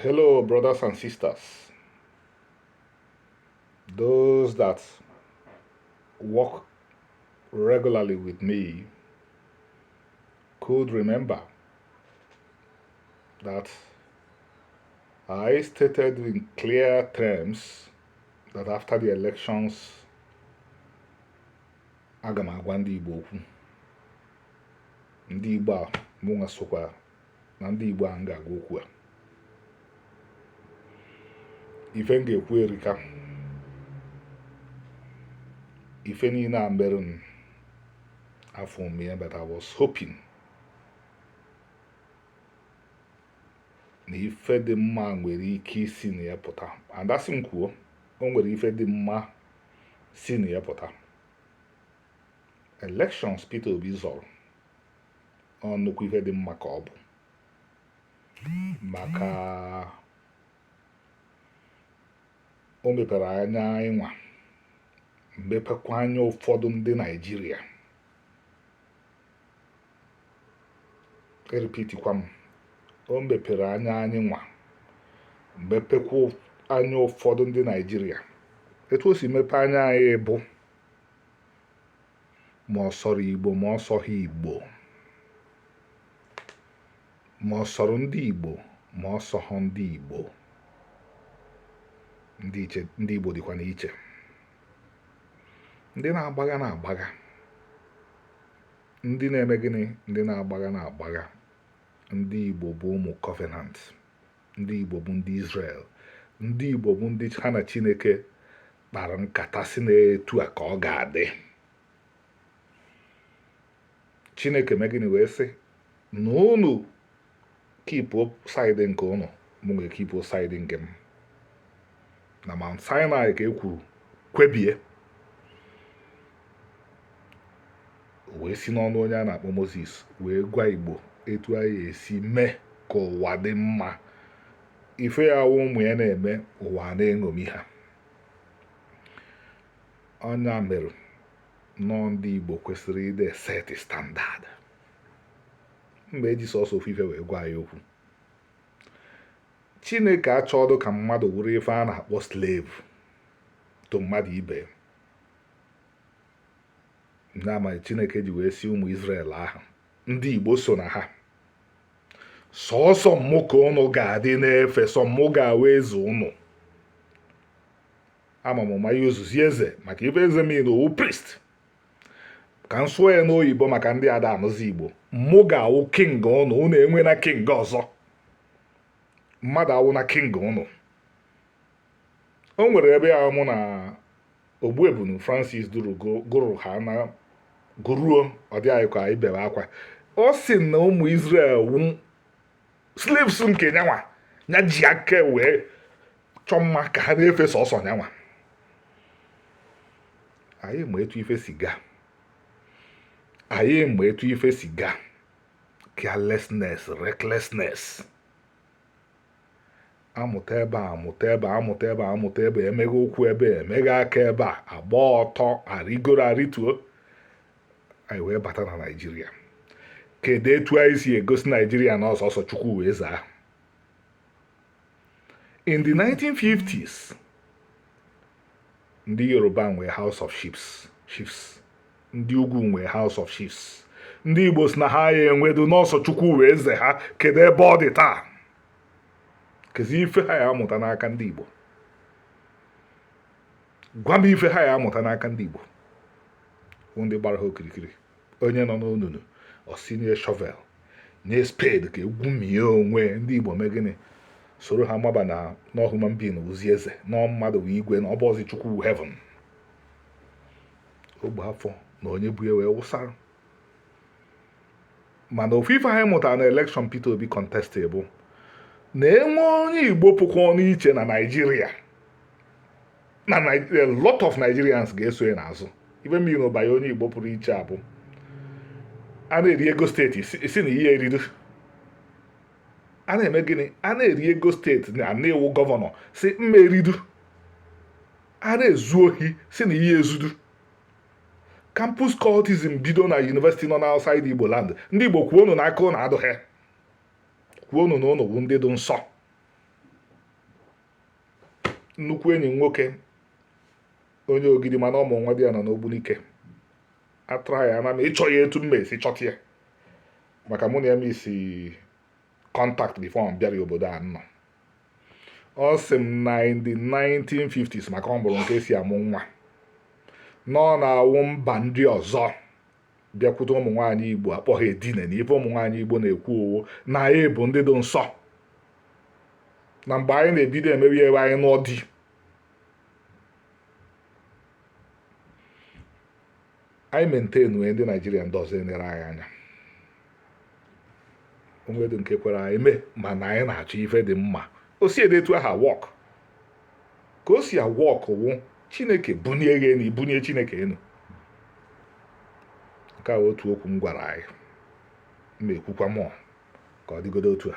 Hello, brothers and sisters. Those that work regularly with me could remember that I stated in clear terms that after the elections, aga m agwa ndị Igbo okwu ndị Igbo a mụnwa sokwa na ndị Igbo a m ga-agwa okwu a ife m ga-ekwu erika ife niile a mere m afọ m ya but I was hoping na ife dị mma nwere ike isi na ya pụta and a sị m kwuo o nwere ife dị mma si na ya pụta elections Peter Obi zọrọ ọ nnukwu ife dị mma ka ọ bụ maka o mepere anya anyị nwa mepekwa anya ụfọdụ ndị naịjirịa erepeatikwa m o mepere anya anyị nwa mepekwa anya ụfọdụ ndị naịjirịa etu o si mepe anya anyị bụ ma ọ sọrọ Igbo ma ọ sọghị Igbo ma ọ sọrọ ndị Igbo ma ọ sọghọ ndị Igbo ndị Igbo dịkwanụ iche ndị na-agbagha na-agbagha ndị na-eme gịnị ndị na-agbagha na-agbagha ndị Igbo bụ ụmụ Covenant ndị Igbo bụ ndị Israel ndị Igbo bụ ndị ha na Chineke kpara nkata sị na etu a ka ọ ga-adị chineke mee gịnị wee sị na unu keep side nke unu mụ wee keep side nke m na mount sinai ka e kwuru kwebie wee si n'ọnụ onye a na-akpọ moses wee gwa igbo etu a ya-esi mee ka ụwa dị mma ife ya wụ ụmụ ya na-eme ụwa na-eṅomi ha ọ nya mere na ndị Igbo kwesịrị ịdị eseti standard m ga-eji sọsọ ofu ife wee gwa ya okwu Chineke achọọdụ ka mmadụ wụrụ ife a na-akpọ slave to mmadụ ibe nya mere Chineke ji wee sị ụmụ Israel ahụ ndị Igbo so na ha sọsọ mụ ka ụnụ ga-adị na-efe sọ mụ ga-awụ eze ụnụ ama m ma ya yuzuzi eze maka ife eze mean ọ wụ priest ka m sụọ ya n'oyibo maka ndị ada anụzi igbo mụ ga-awụ king ụnụ ụnụ enwena king ọzọ mmadụ awụna king ụnụ o nwere ebe ya mụ na ogbuebunu francis duru gụrụ ha na gụruo ọ dị anyị ka anyị bere akwa ọ sị na ụmụ Israel wụ slaves nke nyanwa ya ji aka wee chọọ mma ka ha na-efe sọsọ nyanwa anyị ma etu ife si gaa anyị ma etu ife si gaa carelessness recklessness amụta ebe a amụta ebe a amụta ebe a amụta ebe emeghe ụkwụ ebe a emeghe aka ebe a agba ọtọ arịgoro arịtuo anyị wee bata na naijiria kedu etu anyị si egosi naijiria na ọ sọsọ chukwu wụ eze ha in the 1950s ndị yoruba nwee house of chiefs ndị ugwu nwee house of chiefs ndị igbo sị na ha ya enwedu na ọ sọ chukwu wụ eze ha kedu ebe ọ dị taa kezi ife ha ya amụta n'aka ndị igbo gwa m ife ha ya amụta n'aka ndị igbo ndị gbara ha okirikiri onye nọ n'onunu ọ sị nye shovel nye spade ka e gwumie onwe ndị igbo mee gịnị soro ha maba na na ọ human being wụzi eze na ọ mmadụ wụ igwe na ọ bụrọzi chukwu heaven ọgba afọ na onye bu ya wee wụsara mana ofu ife anyị mụtara na election Peter Obi kọntestị bụ na e nwee onye igbo pụkwanụ iche na naijiria na a lot of Nigerians ga-eso ya n'azụ ife mere na ọ bụ ya onye Igbo pụrụ iche bụ a na-eri ego state sị na ị ya eridu a na-eme gịnị a na-eri ego state na ị wụ governor sị m ma eridu a na-ezu ohi sị na ị ya ezudu campus cultism bido na university nọ n'outside igbo land ndị igbo kwuonu na aka ụnụ adụghị kwuonu na ụnụ bụ ndị dị nsọ nnukwu enyi nwoke onye ogidi mana ọ wụ nwadiana n'ogbunike atụrụ ya ana m achọ ya etu m ya esi chọta ya maka mụ na ya miss contact before m bịara obodo a nọ ọ sị m na in the 1950s maka ọ mụrụ nke si amụ nwa na ọ na-awụ mba ndị ọzọ bịakwute ụmụ nwaanyị igbo akpọ ha edine na ife ụmụ nwaanyị igbo na-ekwu ọ wụ na anyị bụ ndị dị nsọ na mgbe anyị na-ebido emewe ya wụ anyị nụọ di anyị mentenu ndị naijiria ndị ọzọ enere anyị anya o nwedo nke kwere anyị mee mana anyị na-achọ ife dị mma o si ede etu aha work ka o si a-work wụ chineke bunie gị enu i bunie chineke enu nke a otu okwu m gwara anyị m ekwukwa mụọ ka ọ dịgodo otu a